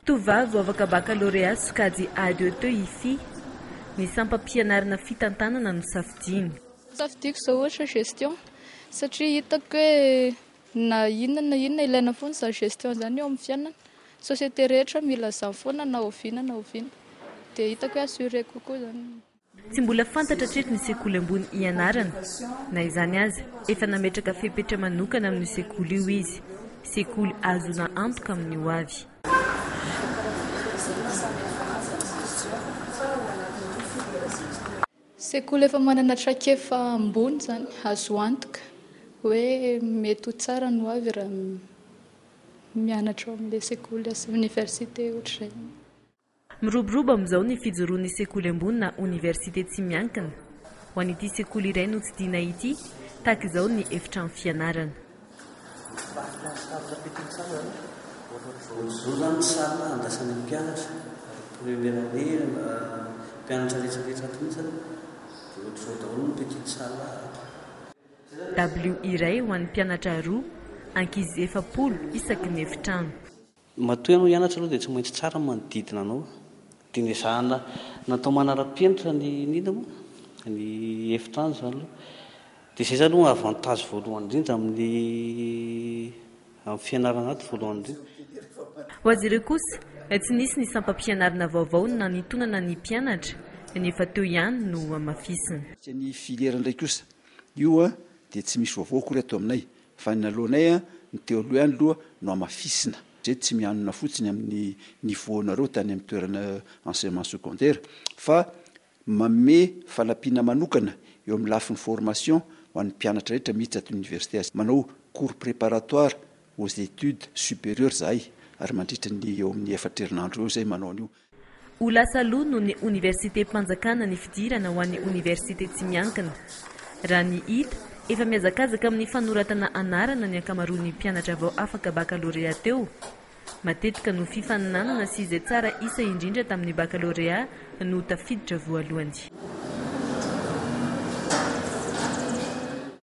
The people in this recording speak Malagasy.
Tovovavy voavaka bakalorea sokajy AET Hifi, ny sampam-pianarana fitantanana no safidiany. Safidiako izao ohatra gestion satria hitako hoe na inona na inona ilaina foana izany gestion izany eo amin'ny fiainana, ny société rehetra mila an'izany foana na oviana na oviana dia hitako hoe assuré kokoa izany. Tsy mbola fantatra hatreto ny sekoly ambony hianarana. Na izany aza, efa nametraka fepetra manokana amin'io sekoly io izy. Sekoly ahazoana antoka amin'ny ho avy. Sekoly efa manana traikefa ambony izany, azo antoka hoe mety ho tsara ny ho avy raha mianatra ao amin'ilay sekoly asa, oniversite, ohatr'izay. Miroborobo amin'izao ny fijoroan'ny sekoly ambony na oniversite tsy miankina. Ho an'ity sekoly iray notsidihina ity, tahaka izao ny efitrano fianarana. Dabilio iray ho an'ny mpianatra roa, ankizy efapolo isaky ny efitrano. Matoa ianao hianatra aloha dia tsy maintsy tsara ny manodidina anao. Dia ny ezahana natao manara-penitra ny nino moa, ny efitrano izany aloha. Dia izay izany no avantage voalohany indrindra amin'ny amin'ny fianarana ato voalohany indrindra. Ho azy ireo kosa, tsy nisy ny sampam-pianarana vaovao nanitonana ny mpianatra, ny efa teo ihany no hamafisina. Ny filière indray kosa, io dia tsy misy vaovao akory ato aminay. Fa ny naloanay an, ny teo aloha ihany loha no hamafisina. Zay tsy mianona fotsiny amin'ny niveau nareo tany amin'ny toerana enseignement secondaire fa manome fanampiana manokana eo amin'ny lafiny formation ho an'ny mpianatra rehetra miditra ato université. Manao cours préparatoire aux études supérieures zahay ary mandritra ny eo amin'ny efatra herinandro eo zay manao an'io. Ho lasa loha noho ny oniversitem-panjakana ny fidirana ho an'ny oniversite tsy miankina. Raha ny hita, efa mihazakazaka amin'ny fanoratana anarana ny ankamaroan'ny mpianatra vao afaka bakalorea teo. Matetika no fifaninanana sy izay tsara isa indrindra tamin'ny bakalorea no tafiditra voalohany.